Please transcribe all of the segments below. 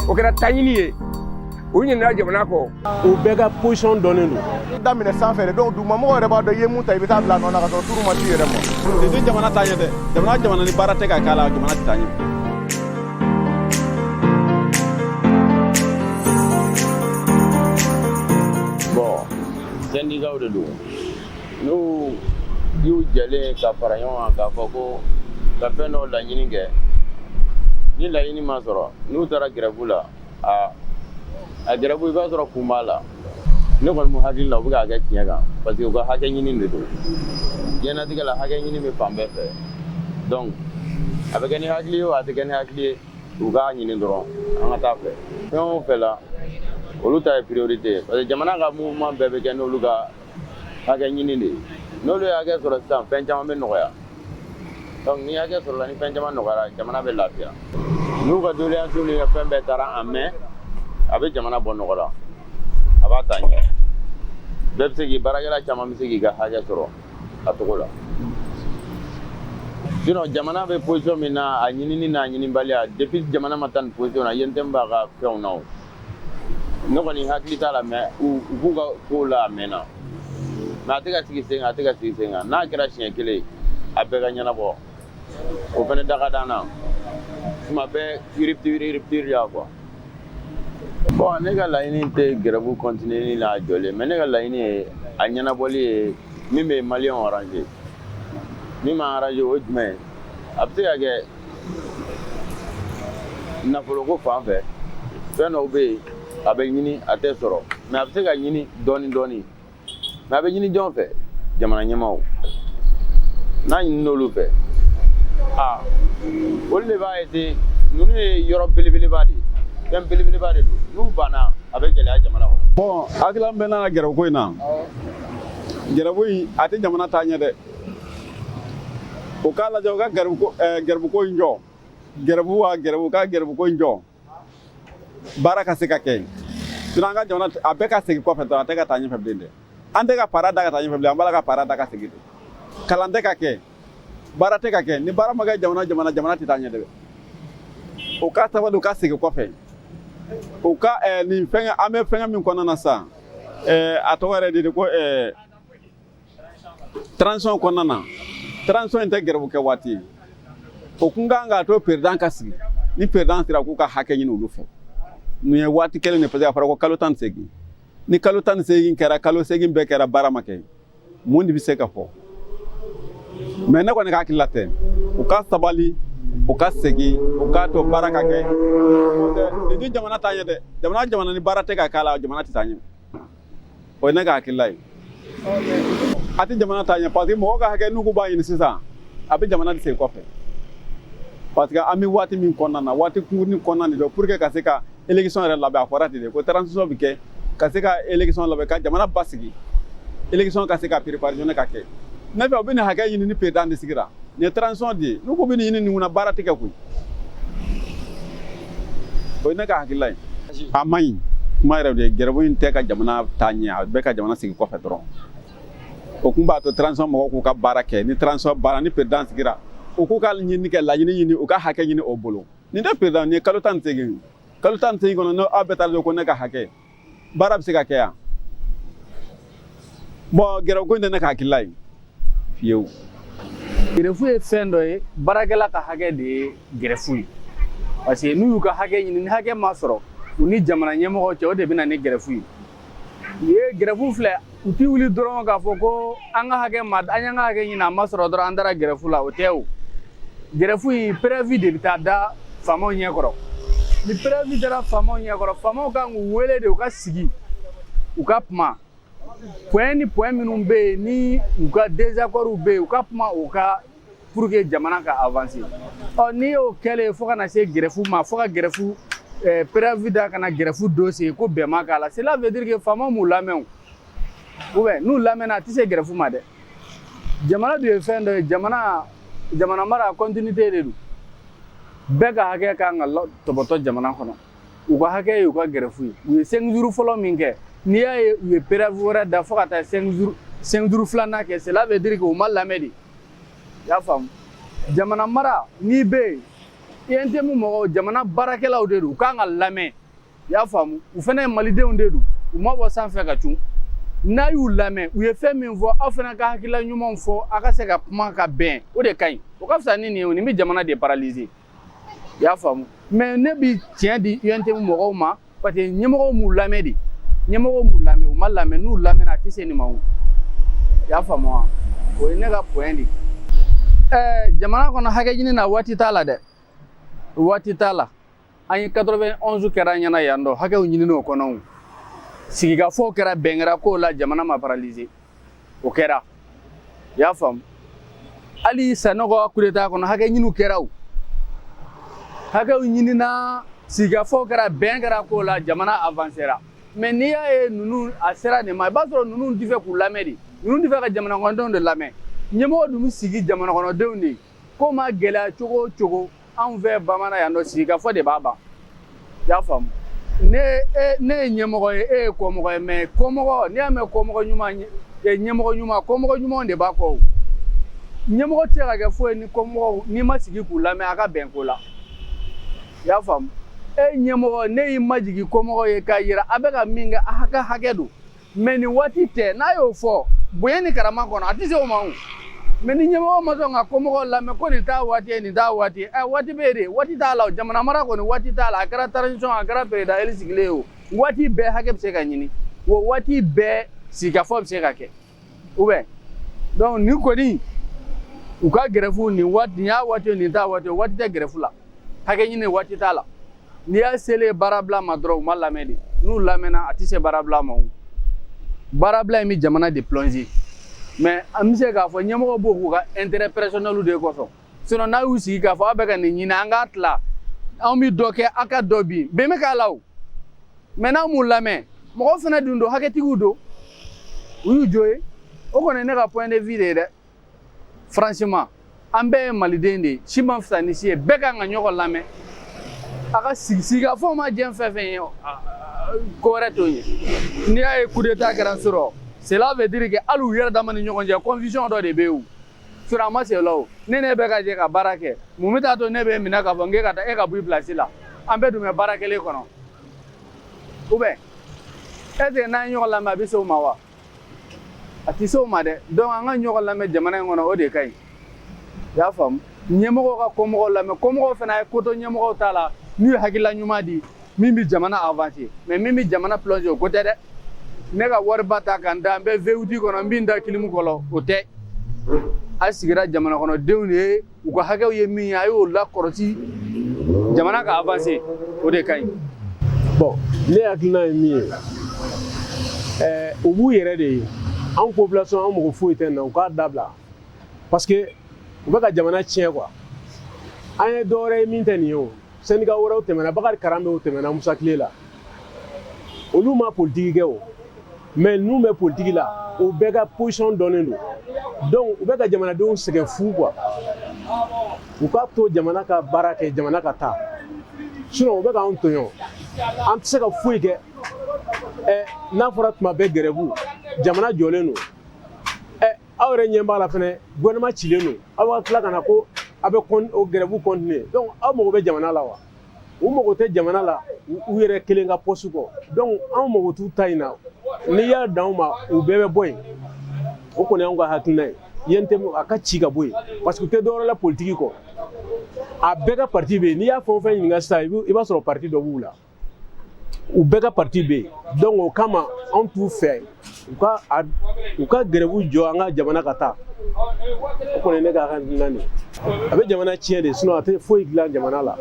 o kɛra taɲini ye u ɲinina jamana kɔ u bɛɛ ka position dɔnnen don daminɛ sanfɛ donc dugumamɔgɔ yɛrɛ b'a dɔn i ye mun ta i bɛ taa bila nɔ na ka sɔrɔ turu ma t'i yɛrɛ ma nin tɛ jamana taa ɲɛ dɛ jamana jamana ni baara tɛ ka k'a la jamana tɛ taa ɲɛ bon sɛndikaw de don N'u y'u jɛlen ka fara ɲɔgɔn kan k'a fɔ ko ka fɛn dɔ laɲini kɛ ni laɲini ma sɔrɔ n'u taara gɛrɛbu la aa a gɛrɛbu i b'a sɔrɔ kun b'a la ne kɔni ne hakili la u bɛ k'a kɛ tiɲɛ kan parce que u ka hakɛ ɲini de don diɲɛnatigɛ la hakɛ ɲini bɛ fan bɛɛ fɛ donc a bɛ kɛ ni hakili ye o a tɛ kɛ ni hakili ye u k'a ɲini dɔrɔn an ka taa fɛ fɛn o fɛn la olu ta ye priorité ye parce que jamana ka mouvement bɛɛ bɛ kɛ n'olu ka Hakɛ ɲini de n'olu ye hakɛ sɔrɔ sisan fɛn caman bɛ nɔgɔya ni hakɛ sɔrɔla ni fɛn caman nɔgɔyara jamana bɛ lafiya n'u ka doléance fɛn bɛɛ tara en main a bɛ jamana bɔ nɔgɔ la a b'a taa ɲɛ bɛɛ bɛ se k'i baara kɛ caman bɛ se k'i ka hakɛ sɔrɔ a cogo la jamana bɛ position min na a ɲinini n'a ɲinibali de jamana ma taa nin position na ye tɛ b'a ka fɛnw na ne kɔni hakili t'a la mais u b'u ka kow la a mɛnna mais a tɛ ka sigi sen kan a tɛ ka sigi sen kan n'a kɛra siɲɛ kelen ye a bɛɛ ka ɲɛnabɔ o fana da ka d'an na tuma bɛɛ yiribitiri yiribitiri ya quoi bon ne ka laɲini tɛ gɛrɛbu kɔntiniyeli la a jɔlen mais ne ka laɲini ye a ɲɛnabɔli ye min bɛ maliyɛnw arranger min ma arranger o ye jumɛn ye a bɛ se ka kɛ nafoloko fan fɛ fɛn dɔw bɛ yen a bɛ ɲini a tɛ sɔrɔ mais a bɛ se ka ɲini dɔɔni dɔɔni mais a bɛ ɲini jɔn fɛ jamana ɲɛmaaw n'a ɲinina olu fɛ aa olu de b'a essayer ninnu ye yɔrɔ belebeleba de ye fɛn belebeleba de don n'u banna a bɛ gɛlɛya jamana kɔnɔ bon hakilina bɛ n'a ka gɛrɛbuko in na gɛrɛbu in a tɛ jamana taa ɲɛ dɛ o k'a lajɛ u ka gɛrɛbuko eh, gɛrɛbuko in jɔ gɛrɛbu wa gɛrɛbu ka gɛrɛbuko in jɔ baara ka se ka kɛ yen sinon an ka jamana a bɛ ka segin kɔfɛ dɔrɔn a tɛ ka taa ɲɛfɛ bilen dɛ an tɛ ka para da ka taa ɲɛfɛ bilen an b'a la ka para da ka segin de kalan tɛ ka kɛ baara tɛ ka kɛ ni baara ma kɛ jamana jamana jamana tɛ taa ɲɛ dɛ o ka sabali u ka segin kɔfɛ u ka eh, nin fɛngɛ an bɛ fɛngɛ min kɔnɔna na sisan eh, a tɔgɔ yɛrɛ de de ko eh, transition kɔnɔna na transition in tɛ gɛrɛbu kɛ waati ye o kun kan k'a to président ka sigi ni président sera k'u ka hakɛ ɲini olu fɛ nin ye waati kelen de parce que a fɔra ko kalo tan ni seegin ni kalo tan ni seegin kɛra kalo seegin bɛɛ kɛra baara ma kɛ mun de bɛ se ka fɔ mais ne kɔni ka hakilila tɛ u ka sabali u ka segin u k'a to baara ka kɛ nin tɛ jamana taa ɲɛ dɛ jamana jamana ni baara tɛ ka k'a la jamana tɛ taa ɲɛ o ye ne ka hakilila ye a tɛ jamana taa ɲɛ parce que mɔgɔw ka hakɛ n'u k'u b'a ɲini sisan a bɛ jamana de segin kɔfɛ parce que an bɛ waati min kɔnɔna na waati kunkurunin kɔnɔna de don pour que ka se ka élection yɛrɛ labɛn a fɔra ten de ko transition bɛ kɛ ka se ka élection labɛn ka jamana basigi élection ka se ka préparer ka kɛ ne fɛ u bɛ nin hakɛ ɲini ni président de sigira nin ye transition de ye n'u ko bɛ nin ɲini nin kunna baara tɛ kɛ koyi o ye ne ka hakilila ye a man ɲi kuma yɛrɛ de ye gɛrɛbu in tɛ ka jamana taa ɲɛ a bɛ ka jamana segin kɔfɛ dɔrɔn o kun b'a to transition mɔgɔw k'u ka baara kɛ ni transition banna ni président sigira u k'u ka ɲini kɛ laɲini ɲini u ka hakɛ ɲini o bolo nin tɛ président nin ye kalo tan ni seegin kalo tan ni seegin kɔnɔ n'aw bɛɛ taara ko ne ka hakɛ baara bɛ se ka kɛ yan bon gɛrɛfu ko in tɛ ne ka hakilila ye fiyewu gɛrɛfu ye fɛn dɔ ye baarakɛla ka hakɛ de ye gɛrɛfu ye parce que n'u y'u ka hakɛ ɲini ni hakɛ ma sɔrɔ u ni jamana ɲɛmɔgɔ cɛ o de bɛ na ni gɛrɛfu ye u ye gɛrɛfu filɛ u tɛ wuli dɔrɔn k'a fɔ ko an ka hakɛ ma an y'an ka hakɛ ɲini a ma sɔrɔ dɔrɔn an taara gɛrɛfu la o tɛ o gɛrɛfu in préavis de bɛ taa da faamaw ɲɛ kɔrɔ ni préavis dara faamaw ɲɛ kɔrɔ faamaw kan k'u wele de u ka sigi u ka kuma point ni point minnu bɛ yen ni u ka désaccordw bɛ yen u ka kuma u ka pour que jamana ka avancer ɔ n'i y'o kɛlen fo ka na se gɛrɛfu ma fo ka gɛrɛfu eh, préavis da ka na gɛrɛfu don c'est que bɛn ma k'a la cela veut dire que faamaw m'u lamɛn ou bien n'u lamɛnna a tɛ se gɛrɛfu ma dɛ jamana dun ye fɛn dɔ ye jamana jamana mara continuité de don bɛɛ ka hakɛ ka kan ka tɔbɔtɔ jamana kɔnɔ u ka hakɛ ye u ka gɛrɛfu ye u ye cinq jours fɔlɔ min kɛ n'i y'a ye u ye préavis wɛrɛ da fo ka taa cinq jours filanan kɛ cela veut dire que u ma lamɛn de i y'a faamu jamana mara n'i bɛ yen UNTM mɔgɔw jamana baarakɛlaw de don u kan ka lamɛn i y'a faamu u fana ye malidenw de don u ma bɔ sanfɛ ka cun n'a y'u lamɛn u ye fɛn min fɔ aw fana ka hakilila ɲumanw fɔ aw ka se ka kuma ka bɛn o de ka ɲi o ka fisa ni nin ye o nin bɛ jamana de paralyser i y'a faamu mais ne bi tiɲɛ di UNTM mɔgɔw ma parce que ɲɛmɔgɔw m'u lamɛn de ɲɛmɔgɔw m'u lamɛn u ma lamɛn n'u lamɛnna a tɛ se nin ma o i y'a faamu wa o ye ne ka point de ɛɛ jamana kɔnɔ hakɛ ɲini na waati t'a la dɛ waati t'a la an ye 91 kɛra an ɲɛna yan dɔ hakɛw ɲinini o kɔnɔ sigikafɔw kɛra bɛn kɛra kow la jamana ma paralyser o kɛra i y'a faamu hali sanɔgɔ coup d'état kɔnɔ hakɛ ɲiniw kɛra o hakɛw ɲinina sigikafɔ kɛra bɛn kɛra k'o la jamana avancera mais n'i y'a ye ninnu a sera nin ma i b'a sɔrɔ ninnu tɛ fɛ k'u lamɛn de ninnu tɛ fɛ ka jamanakɔnɔdenw de lamɛn ɲɛmɔgɔ dun bɛ sigi jamanakɔnɔdenw de ye ko ma gɛlɛya cogo o cogo anw fɛ bamanan yan nɔ sigikafɔ de b'a ban i y'a faamu ne ye ɲɛmɔgɔ ye e ye kɔmɔgɔ ye mais kɔmɔgɔ n'i y'a mɛn kɔmɔgɔ ɲuman e, ɲɛmɔgɔ ɲuman kɔmɔgɔ ɲumanw de b'a kɔ ɲɛmɔgɔ tɛ ka kɛ foyi ni kɔmɔgɔw n'i ma sigi k'u lamɛn a ka bɛn ko la i y'a faamu e ɲɛmɔgɔ ne y'i majigin kɔmɔgɔ ye k'a yira a bɛ ka min kɛ a hakɛ hakɛ don mais nin waati tɛ n'a y'o fɔ bonya ni karama kɔnɔ a tɛ se o ma o mais ni ɲɛmɔgɔ ma sɔn ka kɔmɔgɔw lamɛn ko nin t'a waati ye nin t'a waati ye ɛ eh, waati bɛ yen de waati t'a la o jamana mara kɔni waati t'a la a kɛra transition a kɛra président élu sigilen ye o waati bɛɛ hakɛ bɛ se ka ɲini wa waati bɛɛ sigikafɔ bɛ se ka kɛ ou bien donc nin kɔni u ka gɛrɛfu nin waati nin y'a waati ye nin t'a waati ye waati tɛ gɛrɛfu la hakɛ ɲini waati t'a la n'i y'a selen baarabila ma dɔrɔn u ma lamɛn de n'u lamɛnna a tɛ se baarabila ma o baarabila in bɛ jamana de plonger mais an bɛ se k'a fɔ ɲɛmɔgɔ b'o k'u ka intérêt personnel de kosɔn sinon n'a y'u sigi k'a fɔ aw bɛ ka nin ɲini an k'a tila anw bɛ dɔ kɛ aw ka dɔ bin bɛn bɛ k'a la o mais n'an m'u lamɛn mɔgɔw fana dun don hakɛtigiw don u y'u jo ye o kɔni ye ne ka point de vue de ye dɛ franchement an bɛɛ ye maliden de ye si ma fisa ni si ye bɛɛ kan ka ɲɔgɔn lamɛn a ka sigi sigikafɔ ma diɲɛ fɛn fɛn ye ko wɛrɛ t'o ye n'i y'a ye coup d'état kɛra sɔrɔ cela veut dire que hali u yɛrɛ dama ni ɲɔgɔn cɛ confusion dɔ de bɛ yen sɔrɔ a ma se o la o ne n'e bɛ ka jɛ ka baara kɛ mun bɛ taa to ne b'e minɛ k'a fɔ k'e ka taa e ka bɔ i place la an bɛɛ dun bɛ baara kelen kɔnɔ ou bien est ce que n'an ye ɲɔgɔn lamɛn a bɛ se o ma wa a tɛ se o ma dɛ donc an ka ɲɔgɔn lamɛn jamana in kɔnɔ o de ka ɲi i y'a faamu ɲɛmɔgɔw ka kɔmɔgɔw lamɛn kɔmɔgɔw fana ye ko to ɲɛmɔgɔw ta la n'u ye hakilila ɲuman di min bɛ jamana avancer mais min bɛ jamana plonger o ko tɛ dɛ ne ka wariba ta ka n da n bɛ V8 kɔnɔ n bɛ n da kilimu kɔrɔ o tɛ a sigira jamanakɔnɔdenw de ye u ka hakɛw ye min ye a y'o lakɔrɔsi jamana ka avancer o de ka ɲi bon ne hakilina ye min ye ɛɛ u b'u yɛrɛ de ye anw population an mɔgɔ foyi tɛ na u k'a dabila parce que u bɛ ka jamana tiɲɛ quoi an ye dɔ wɛrɛ ye min tɛ nin ye o syndicat wɛrɛw tɛmɛna bakari karanbɛ o tɛmɛna musa tile la olu ma politiki kɛ o mais n'u bɛ politiki la u bɛɛ ka position dɔnnen don donc u bɛ ka jamanadenw sɛgɛn fu quoi u k'a to jamana ka baara kɛ jamana ka taa sinon u bɛ k'an tɔɲɔ an tɛ se ka foyi kɛ ɛ n'a fɔra tuma bɛɛ gɛrɛbu jamana jɔlen don ɛ aw yɛrɛ ɲɛ b'a la fɛnɛ gouvernement cilen don aw ka tila ka na ko aw bɛ o gɛrɛbu continuer donc aw mago bɛ jamana la wa u mago tɛ jamana la u yɛrɛ kelen ka pɔsi kɔ donc anw mago t'u ta in na n'i y'a dan anw ma u bɛɛ bɛ bɔ yen o kɔni y'anw ka hakilina ye UNTM a ka ci ka bɔ yen parce que u tɛ dɔwɛrɛ la politiki kɔ a bɛɛ ka parti bɛ yen n'i y'a fɛn o fɛn ɲininka sisan i b'a sɔrɔ parti dɔ b'u la u bɛɛ ka parti bɛ yen donc o kama anw t'u fɛ u ka grève jɔ an ka jamana ka taa o kɔni ye ne ka hakilina de ye a bɛ jamana tiɲɛ de sinon a tɛ foyi dilan jamana la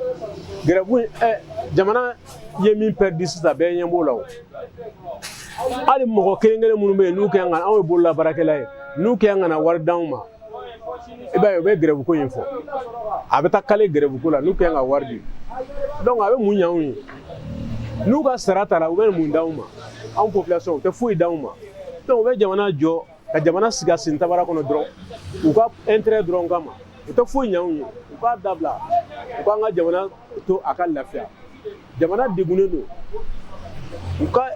grève in ɛ jamana ye min pɛridi sisan bɛɛ ɲɛ b'o la o hali mɔgɔ kelen-kelen minnu bɛ yen n'u kɛn ka anw ye bololabaarakɛla ye n'u kɛn ka na wari d'anw ma i b'a ye u bɛ gɛrɛbuko in fɔ a bɛ taa kale gɛrɛbuko la n'u kɛn ka wari di donc a bɛ mun ɲ'anw ye n'u ka sara tara u bɛ mun d'anw ma anw population u tɛ foyi d'anw ma donc u bɛ jamana jɔ ka jamana sigi a sen tabara kɔnɔ dɔrɔn u ka intérêt dɔrɔn kama u tɛ foyi ɲ'anw ye u k'a dabila u k'an ka jamana to a ka lafiya jamana degunnen don u ka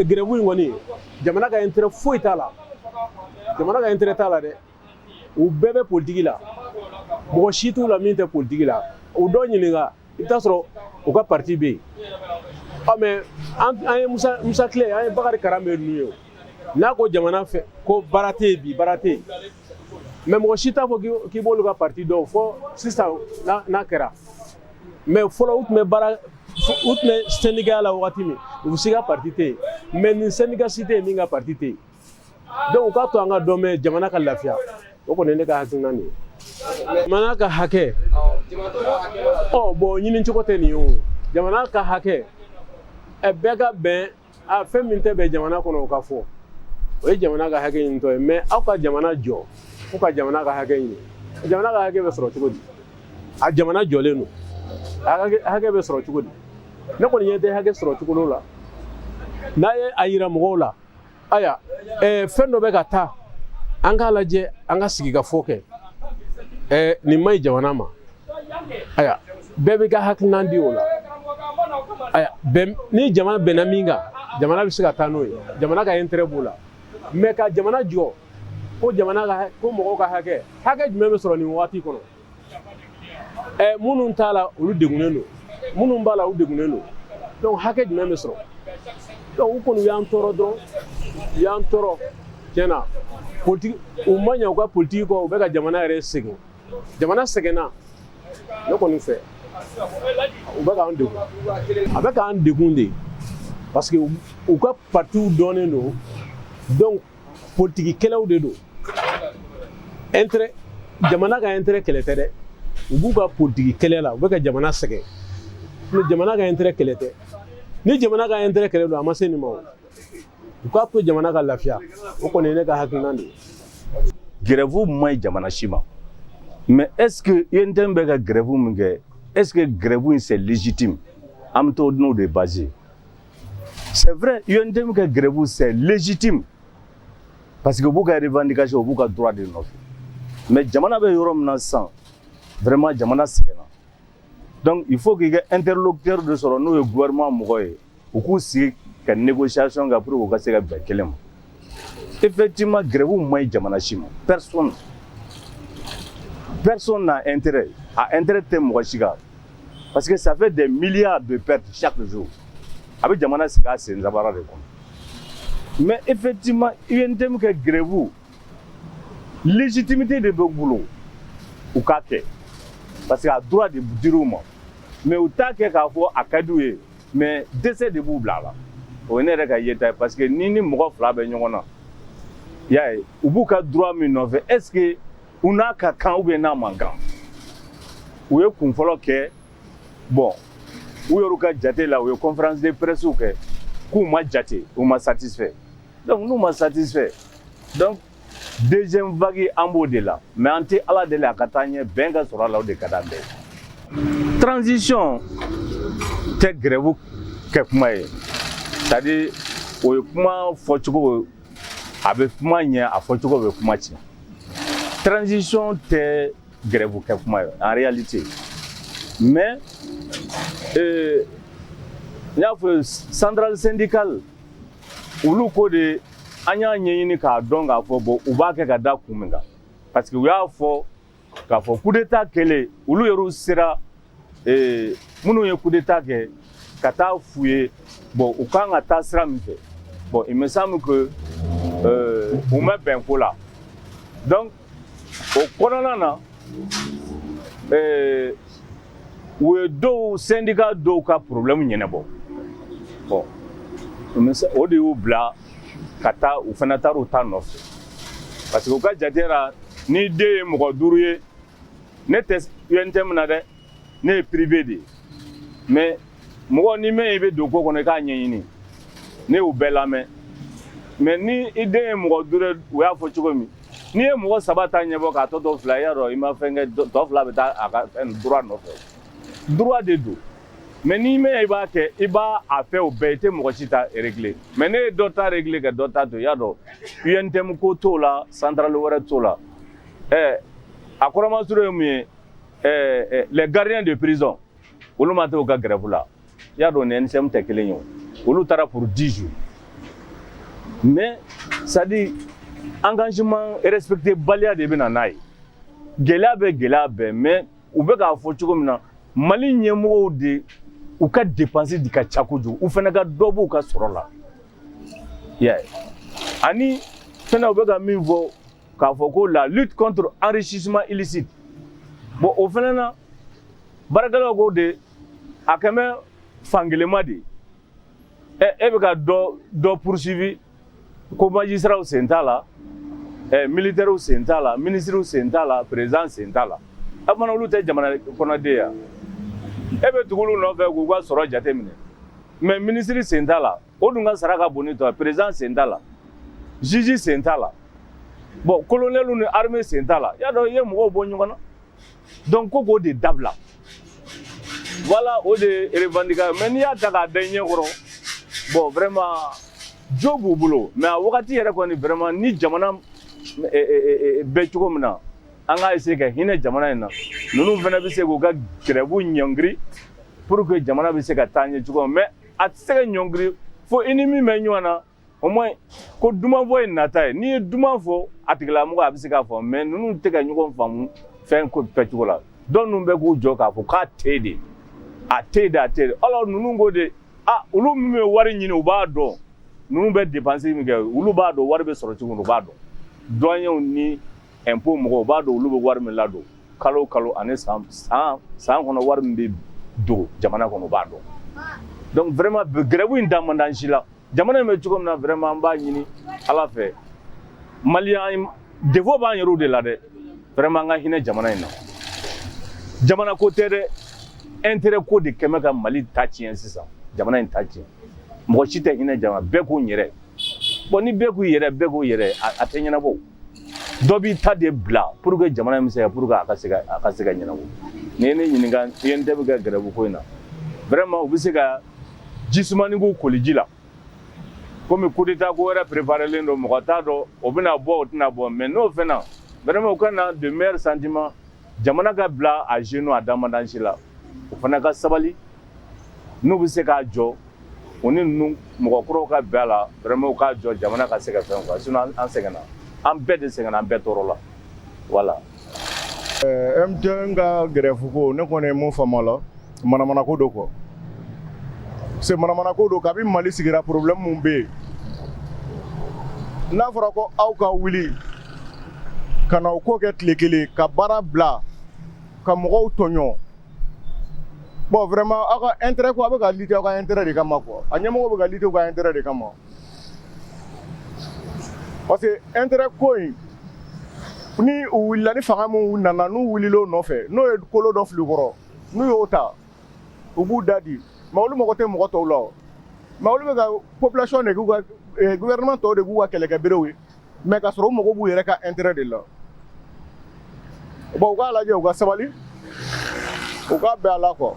grève in kɔni jamana ka intérêt foyi t'a la jamana ka intérêt t'a la dɛ u bɛɛ bɛ politiki la mɔgɔ si t'u la min tɛ politiki la u dɔ ɲininka i bɛ taa sɔrɔ u ka parti bɛ yen ɔ mais an ye musa musa tile an ye bakari karanbe ninnu ye n'a ko jamana fɛ ko baara tɛ yen bi baara tɛ yen mais mɔgɔ si t'a fɔ k'i b'olu ka parti dɔn fɔ sisan n'a kɛra mais fɔlɔ u tun bɛ baara U tun bɛ syndicat la waati min u si ka parti tɛ yen mais nin syndicat si tɛ yen min ka parti tɛ yen donc u k'a to an ka dɔn mɛn jamana ka lafiya o kɔni ne ka hakilina nin ye jamana ka hakɛ bɔn ɲini cogo tɛ nin ye jamana ka hakɛ bɛɛ ka bɛn aa fɛn min tɛ bɛn jamana kɔnɔ o ka fɔ o ye jamana ka hakɛ ɲinitɔ ye mais aw ka jamana jɔ fu ka jamana ka hakɛ ɲini jamana ka hakɛ bɛ sɔrɔ cogo di a jamana jɔlen don a hakɛ bɛ sɔrɔ cogo di ne kɔni ɲɛ tɛ hakɛ sɔrɔ cogo la n'a ye a yira mɔgɔw la ayiwa eh, fɛn dɔ bɛ ka taa an k'a lajɛ an ka sigikafɔ kɛ eh, nin man ɲi jamana ma ayiwa bɛɛ bɛ ka hakilinan di o la ni jamana bɛnna min kan jamana bɛ se ka taa n'o ye jamana ka intérêt b'o la mais ka jamana jɔ ko jamana ka ko mɔgɔw ka hakɛ hakɛ jumɛn bɛ sɔrɔ nin waati kɔnɔ ɛ minnu t'a la olu degunnen don minnu b'a la u degunnen don donc hakɛ jumɛn bɛ sɔrɔ donc u kɔni y'an tɔɔrɔ dɔrɔn u y'an tɔɔrɔ tiɲɛ na politiki u ma ɲɛ u ka politiki kɔ u bɛ ka jamana yɛrɛ sɛgɛn jamana sɛgɛnna ne kɔni fɛ u bɛ k'an degun a bɛ k'an degun de parce que u ka patiw dɔnnen don donc politiki kɛlɛw de don intérêt jamana ka intérêt kɛlɛ tɛ dɛ u b'u ka politiki kɛlɛ la u bɛ ka jamana sɛgɛn ni jamana ka intérêt kɛlɛ tɛ ni jamana ka intérêt kɛlɛ don a ma se nin ma o u k'a to jamana ka lafiya o kɔni ye ne ka hakilinan de ye grève man ɲi jamana si ma mais est ce que UNTM bɛ ka grève min kɛ est ce que grève in c'est légitime an bɛ t'o n'o de base c'est vrai UNTM ka grève c'est légitime parce que u b'u ka revendication u b'u ka droit de nɔfɛ mais jamana bɛ yɔrɔ min na sisan vraiment jamana sɛgɛnna donc il faut k'i ka interlocuteur de sɔrɔ n'o ye gouvernement mɔgɔ ye u k'u sigi ka négociation kɛ pour que u ka se ka bɛn kelen ma effectivement grève man ɲi jamana si ma personne personne n'a intérêt a intérêt tɛ mɔgɔ si kan parce que ça fait des milliards de pertes chaque jour a bɛ jamana sigi a sen sabara de kɔnɔ mais effectivement UNTM ka grève légitimité de bɛ u bolo u k'a kɛ parce que a droit de dir'u ma mais u t'a kɛ k'a fɔ a ka d'u ye mais dɛsɛ de b'u bila a la o ye ne yɛrɛ ka yeta ye parce que ni ni mɔgɔ fila bɛ ɲɔgɔn na i y'a ye u b'u ka droit min nɔfɛ est ce que u n'a ka kan ou bien n'a man kan u ye kun fɔlɔ kɛ bon u yɛrɛw ka jate la u ye conférence de presse kɛ k'u ma jate u ma satisfait donc n'u ma satisfait donc deuxième vague an b'o de la mais an tɛ ala deli a ka taa ɲɛ bɛn ka sɔrɔ a la o de ka d'an bɛɛ ye transition tɛ grève kɛ kuma ye c'est à dire o ye kuma fɔcogo a bɛ kuma ɲɛ a fɔcogo bɛ kuma tiɲɛ transition tɛ grève kɛ kuma ye en réalité mais euh, n y'a fɔ centrale syndicale olu ko de an y'a ɲɛɲini k'a dɔn k'a fɔ bon u b'a kɛ ka da kun min kan parce que u y'a fɔ k'a fɔ kudeta kɛlen olu yɛrɛw sera ee, minnu ye kudeta kɛ ka taa f'u ye bon u kan ka taa sira min fɛ bon il me semble que euh, u ma bɛn ko la donc o kɔnɔna na ee u ye dɔw sɛndika dɔw ka porobilɛmu ɲɛnabɔ bɔn o de y'u bila ka taa u fana taara u ta nɔfɛ parce que u ka jate ra n'i den ye mɔgɔ duuru ye ne tɛ UNTM na dɛ ne ye prive de ye mais mɔgɔ ni mɛn i bɛ don ko kɔnɔ i k'a ɲɛɲini ne y'u bɛɛ lamɛn mais ni i den ye mɔgɔ duuru u y'a fɔ cogo min n'i ye mɔgɔ saba ta ɲɛbɔ k'a tɔ to fila i y'a dɔn i ma fɛn kɛ tɔ fila bɛ taa a ka fɛn droit nɔfɛ droit de don mais n'i mɛn i b'a kɛ i b'a a fɛ o bɛɛ i tɛ mɔgɔ si ta régler mais ne ye dɔ ta régler ka dɔ ta to i y'a dɔn UNTM ko t'o la centrale wɛrɛ t'o la ɛ a kɔrɔmasuru ye mun ye Ɛɛ les gardiens de prison olu ma taa u ka grève la i y'a dɔn ni NSM tɛ kelen ye o, olu taara pour 10 jours mais c'est à dire engagement respecter baliya de bɛ na n'a ye, gɛlɛya bɛ gɛlɛya bɛ mais u bɛ k'a fɔ cogo min na Mali ɲɛmɔgɔw de u ka dépense de ka ca kojugu, u fana ka dɔ b'u ka sɔrɔ la, i y'a ye, ani fana u bɛ ka min fɔ k'a fɔ ko la lutte contre enrichissement illicite bon o fana na baarakɛlaw ko de a kɛlen bɛ fankelenma de ɛ e bɛ ka dɔ dɔ poursuivi ko majisitaraw sen t'a la ɛ militɛriw sen t'a la minisiriw sen t'a la peresidan sen t'a la a u fana olu tɛ jamana kɔnɔden ya e bɛ tugu olu nɔfɛ k'u ka sɔrɔ jateminɛ mais minisiri sen t'a la o dun ka sara ka bon ni tɔ ye président sen t'a la juge sen t'a la bon colonel ni armée sen t'a la y'a dɔn i ye mɔgɔw bɔ ɲɔgɔn na donc ko k'o de dabila voilà o de revendication mais n'i y'a ta k'a da i ɲɛ kɔrɔ bon vraiment jo b'u bolo mais a wagati yɛrɛ kɔni vraiment ni jamana eh, eh, eh, bɛ cogo min na an k'a essayer ka hinɛ jamana in na ninnu fana bɛ se k'u ka grève ɲɔngiri pour que jamana bɛ se ka taa ɲɛ cogo min mais a tɛ se ka ɲɔngiri fo i ni min bɛ ɲɔgɔn na au moins ko duman fɔ ye nata ye n'i ye duman fɔ a tigilamɔgɔ a bɛ se k'a fɔ mais ninnu tɛ ka ɲɔgɔn faamu fɛn ko kɛcogo la donc ninnu bɛ k'u jɔ k'a fɔ k'a tɛ de a tɛ de a tɛ de alors ninnu ko de a olu min bɛ wari ɲini u b'a dɔn ninnu bɛ depansi min kɛ olu b'a dɔn wari bɛ sɔrɔ cogo u b'a dɔn douaniers ni impôt mɔgɔw u b'a dɔn olu bɛ wari min ladon kalo kalo ani san san kɔnɔ wari min bɛ don jamana kɔnɔ u b'a dɔn dɔnku vraiment grève in da man d'an si la jamana in bɛ cogo min na vraiment an b'a ɲini ala fɛ maliyɛn défaut b'an yɛrɛ de la dɛ vraiment an ka hinɛ jamana in na jamana ko tɛ dɛ intérêt ko de kɛlen bɛ ka mali ta tiɲɛ sisan jamana in ta tiɲɛ mɔgɔ si tɛ hinɛ jamana bɛɛ k'u yɛrɛ bɔn ni bɛɛ k'u yɛrɛ bɛɛ k'u yɛrɛ a tɛ ɲɛnabɔ dɔ b'i ta de bila pour que jamana in bɛ se ka pour que a ka se ka a ka se ka ɲɛnabɔ n'i ye ne ɲininka UNTM ka grève ko in na vraiment u bɛ se ka ji sumanin k'u koliji la komi kudeta ko wɛrɛ préparelen don mɔgɔ t'a dɔn o bɛna bɔ o tɛna bɔ mais n'o fɛnna vraiment u ka na de meilleurs sentiments jamana ka bila à genoux a damadasi la u fana ka sabali n'u bɛ se k'a jɔ u ni ninnu mɔgɔ kuraw ka bɛn a la vraiment u k'a jɔ jamana ka se ka fɛn quoi sinon an sɛgɛnna an bɛɛ de sɛgɛnna an bɛɛ tɔɔrɔla voilà UNTM ka grève ko ne kɔni ye mun faamu a la Manamana ko don quoi parce que manamana ko don kabini Mali sigira problème min bɛ yen, n'a fɔra ko aw ka wuli ka na o ko kɛ tile kelen ka baara bila ka mɔgɔw tɔɲɔ bon vraiment aw ka intérêt ko a bɛ ka lutter aw ka intérêt de kama quoi a ɲɛmɔgɔw bɛ ka lutter u ka intérêt de kama parce que intérêt ko in ni u wulila ni fanga min nana n'u wulila o nɔfɛ n'o ye kolo dɔ fili u kɔrɔ n'u y'o ta u b'u da di mais olu mago tɛ mɔgɔ tɔw la o mais olu bɛ ka population de k'u ka eh, gouvernement tɔw de k'u ka kɛlɛkɛberew ye mais ka sɔrɔ u mago b'u yɛrɛ ka intérêt de la bon u k'a lajɛ u ka sabali u k'a bɛn a la quoi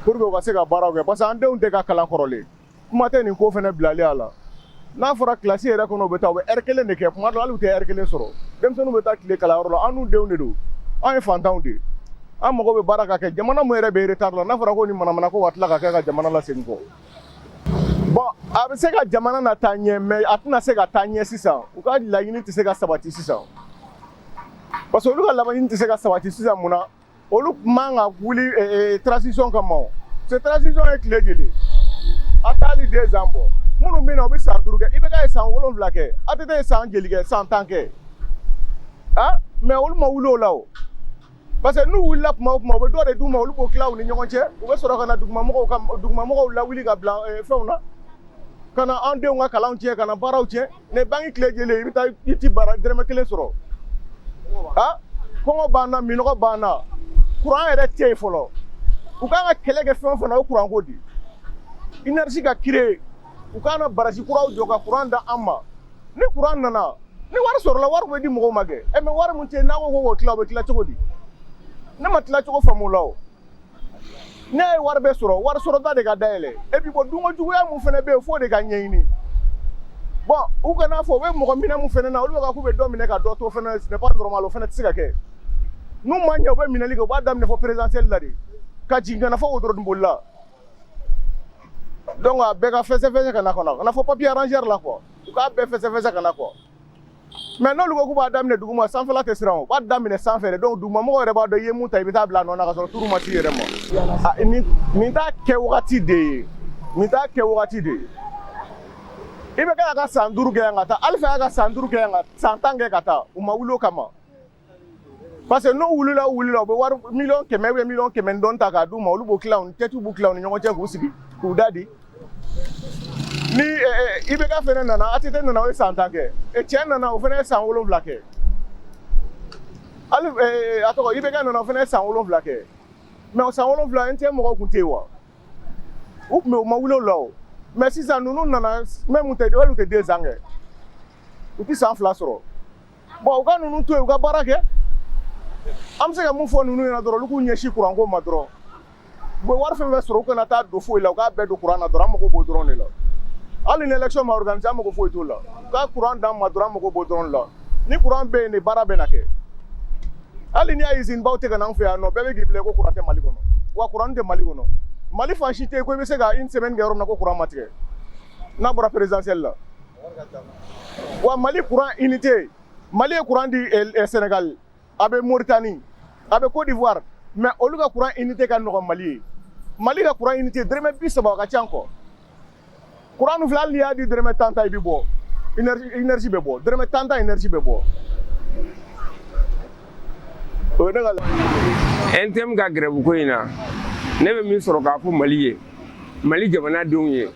pour que u ka se ka baaraw kɛ parce que an denw tɛ ka kalan kɔrɔlen kuma tɛ nin ko fana bilali a la n'a fɔra kilasi yɛrɛ kɔnɔ u bɛ taa u bɛ heure kelen de kɛ kuma dɔ hali u tɛ heure kelen sɔrɔ denmisɛnninw bɛ taa tile kalanyɔrɔ la anw denw de don an ye fantanw de an mago bɛ baara ka kɛ jamana min yɛrɛ bɛ retard la n'a fɔra ko ni manamana ko ka tila ka kɛ ka jamana lasegin kɔ bon a bɛ se ka jamana nataa ɲɛ mais a tɛna se ka taa ɲɛ sisan u ka laɲini tɛ se ka sabati sisan parce que olu ka laɲini tɛ se ka sabati sisan mun na olu tun man ka wuli eh, eh, transition kama o c'est transition ye tile joli a tɛ hali deux ans bɔ minnu bɛ na u bɛ san duuru kɛ IBK ye san wolonwula kɛ ATT ye san joli kɛ san tan kɛ ah mais olu ma wuli o la o parce que n'u wulila kuma o kuma u bɛ dɔ de d'u ma olu b'o tila u ni ɲɔgɔn cɛ u bɛ sɔrɔ ka na dugumamɔgɔw ka dugumamɔgɔw lawuli ka bila eh, fɛnw na ka na an denw ka kalanw tiɲɛ ka na baaraw tiɲɛ ne banki tile joli i bɛ taa i t'i bara dɛrɛmɛ kelen sɔrɔ a kɔngɔ b'an na minnɔgɔ b'an na kuran yɛrɛ tɛ yen fɔlɔ u kan ka kɛlɛ kɛ fɛn o fɛn na o kuran ko di énergie ka créer u ka na barasi kuraw jɔ ka kuran da an ma ni kuran nana ni wari sɔrɔla wari bɛ di mɔgɔw ma kɛ ɛ mais wari min tɛ yen n'a ko ko k'o tila o bɛ tila cogo di ne ma tila cogo faamu o la o ne ye wari bɛ sɔrɔ wari sɔrɔda de ka dayɛlɛ et puis bon dunko juguya mun fana bɛ yen f'o de ka ɲɛɲini bon u kana fɔ u bɛ mɔgɔ minɛ mun fana na olu bɛ ka k'u bɛ dɔ minɛ ka dɔ to fana ce n'est pas normal o fana tɛ se ka kɛ n'u ma ɲɛ u bɛ minɛli kɛ u b'a daminɛ fɔ présidentielle la de ka jigin ka na fɔ wotoroninboli la donc a bɛɛ ka fɛsɛfɛsɛ ka na kɔnɔ ka na fɔ papier arrangeur la quoi u k'a bɛɛ fɛsɛfɛsɛ ka na quoi mais n'olu ko k'u b'a daminɛ duguma sanfɛla tɛ siran u b'a daminɛ sanfɛ de donc dugumamɔgɔw yɛrɛ b'a dɔn i ye min ta i bɛ taa bila a nɔ na ka sɔrɔ tour ma s'i yɛrɛ ma nin t'a kɛ wagati de ye nin t'a kɛ wagati de ye IBK ka san duuru kɛ yan ka taa alifa y'a ka san duuru kɛ yan ka san tan kɛ ka taa u ma wuli o kama parce que n'u wulila u wulila u bɛ wari miliyɔn kɛmɛ ou miliyɔn kɛmɛ ni dɔɔni ta k'a d'u ma olu b'o tila u ni tɛtiw b'u tila u ni ɲɔgɔn cɛ k'u sigi k'u da de ni IBK fana nana ATT nana o ye san tan kɛ cɛ nana o fana ye san wolonwula kɛ hali a tɔgɔ IBK nana o fana ye san wolonwula kɛ mais o san wolonwula NTM mɔgɔw tun tɛ yen wa u tun bɛ u ma wuli o la o mais sisan ninnu nana même u tɛ hali u tɛ deux ans kɛ u tɛ san fila sɔrɔ. bon u ka ninnu to yen u ka baara kɛ an bɛ se ka mun fɔ ninnu ɲɛna dɔrɔn olu k'u ɲɛsin kuranko ma dɔrɔn u bɛ wari fɛn fɛn sɔrɔ u kana taa don foyi la u k'a bɛɛ don kuran na dɔrɔn an mago b'o dɔrɔn de la hali ni élection ma organiser an mago foyi t'o la u ka kuran d'an ma dɔrɔn an mago b'o dɔrɔn de la ni kuran bɛ yen de baara bɛna kɛ hali n'i y'a usine baw tɛ ka n'an fɛ yan nɔ bɛɛ bɛ k'i bila ko kuran tɛ mali kɔnɔ wa kuran tɛ mali kɔnɔ mali fan si tɛ yen ko i bɛ se ka une semaine kɛ yɔrɔ min na ko kuran ma tigɛ n'a bɔra présidentielle la wa mali kuran unité mali ye kuran di eh, eh, sénégal a bɛ moritani a bɛ côte d'ivoire mais olu ka kuran unité ka nɔgɔn mali ye mali ka kuran unité dɛrɛmɛ bi saba a ka ca kɔ kuran nu fila hali i y'a di dɛrɛmɛ tan ta i bɛ bɔ énergie bɛ bɔ dɛrɛmɛ tan ta énergie bɛ bɔ o ye ne ka ntm ka grève ko in na ne bɛ min sɔrɔ k'a fɔ mali ye mali jamanadenw ye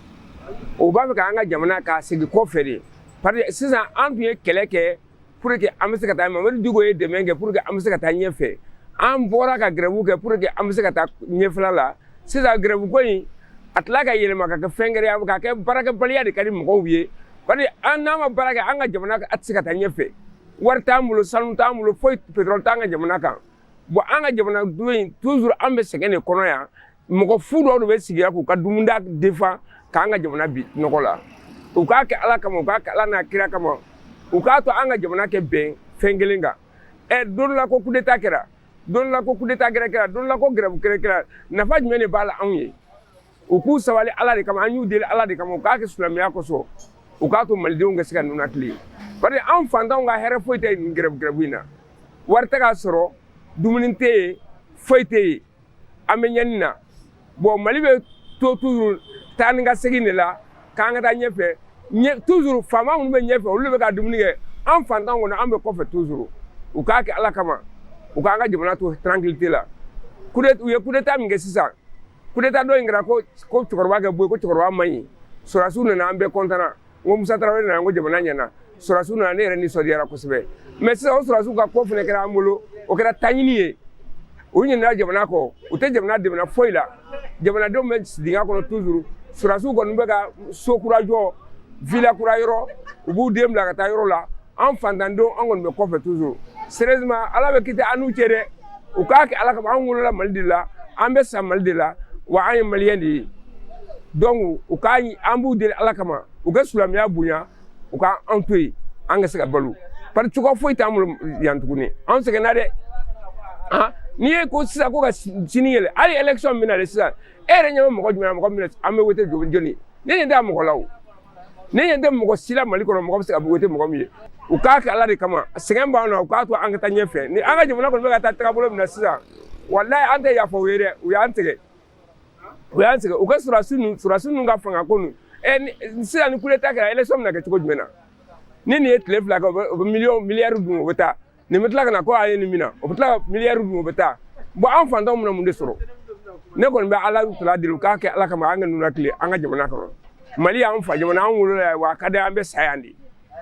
o b'a fɛ k'an ka jamana ka segin kɔfɛ de parce que sisan an tun ye kɛlɛ kɛ pour que an bɛ se ka taa mamadu diko ye dɛmɛ kɛ pour que an bɛ se ka taa ɲɛfɛ an bɔra ka grève kɛ pour que an bɛ se ka taa ɲɛfɛla la sisan grève ko in a tila ka yɛlɛma ka kɛ fɛn gɛrɛ ye ka kɛ baarakɛbaliya de ka di mɔgɔw ye parce que an n'an ma baara kɛ an ka jamana a tɛ se ka taa ɲɛfɛ wari t'an bolo sanu t'an bolo foyi pétrole t'an ka jamana kan bon an ka jamanadenw in toujours an bɛ sɛgɛn de kɔnɔ yan mɔgɔ fu dɔw de bɛ sigi yan k'u ka dumuni défendre k'an ka jamana bila nɔgɔ la u k'a kɛ ala kama u k'a kɛ ala n'a kira kama u k'a to an ka jamana ka bɛn fɛn kelen kan ɛ don dɔ la ko coup d'état kɛra don dɔ la ko coup d'état gɛrɛ kɛra don dɔ la ko grève gɛrɛ kɛra nafa jumɛn de b'a la anw ye u k'u sabali ala de kama an y'u deli ala de kama u k'a kɛ silamɛya kosɔn u k'a to malidenw ka se ka ninakili parce que anw fantanw ka hɛrɛ foyi tɛ nin grève grève in na wari tɛ ka sɔrɔ dumuni tɛ yen foyi tɛ yen an bɛ ɲɛni na bon mali bɛ to toujours taa ni ka segin de la k'an ka taa ɲɛfɛ toujours faama minnu bɛ ɲɛfɛ olu de bɛ ka dumuni kɛ an fantanw kɔni an bɛ kɔfɛ toujours u k'a kɛ ala kama u k'an ka jamana to tranquillité la u ye coup d'état min kɛ sisan coup d'état dɔ in kɛra ko cɛkɔrɔba ka bɔ yen ko cɛkɔrɔba man ɲi sɔrɔdasiw nana an bɛɛ content ko musa tarawele nana ko jamana ɲɛna sɔrɔdasiw nana ne yɛrɛ nisɔndiyara kosɛbɛ mais sisan o sɔrɔdasiw ka ko fɛnɛ kɛra an bolo o kɛra taɲini ye u ɲinɛna jamana kɔ u tɛ jamana dɛmɛna foyi la jamanadenw bɛ dingɛ kɔnɔ toujours sɔrɔdasiw kɔni bɛ ka so kura jɔ villa kura yɔrɔ u b'u den bila ka taa yɔrɔ la an fantandenw an kɔni bɛ kɔfɛ toujours sérieusement ala bɛ kiti an n'u cɛ dɛ u k'a kɛ ala kama an wolola mali de la an bɛ sa mali de la wa an ye maliyɛn de ye donc u k'a an b'u deli ala kama u ka silamɛya bonya u k' an to yen an ka se ka balo parce que cogoya foyi t'an bolo yan tuguni an sɛgɛnna dɛ ah, n'i ye ko sisan ko ka sini yɛlɛ hali election min na dɛ sisan e yɛrɛ ɲɛ bɛ mɔgɔ jumɛn na mɔgɔ min an bɛ wote jɔn ye ne ɲɛ tɛ mɔgɔ la o ne ɲɛ tɛ mɔgɔ si la mali kɔnɔ mɔgɔ bɛ se ka wote mɔgɔ min ye u k'a kɛ ala de kama sɛgɛn b'an na u k'a to an ka taa ɲɛfɛ ni an ka jamana kɔni bɛ ka taa tagabolo min na sisan walayi an tɛ yafa u ye dɛ u y'an tigɛ u y'an tigɛ u ka sɔrɔdasi ninnu sɔrɔdasi ninnu ka fanga ko ninnu ɛ sisan ni coup d'état kɛra election bɛna kɛ cogo jumɛn na ni nin ye tile fila kɛ u bɛ miliyɔn miliyari dun u bɛ taa nin bɛ tila ka na ko a ye nin mina o bɛ tila ka miliyari dun o bɛ taa bon an fantanw bɛna mun de sɔrɔ ne kɔni bɛ ala tala deli u k'a kɛ ala kama an ka ninakili an ka jamana kɔnɔ mali y'an fa jamana an wolola yan wa a ka di an bɛ sa yan de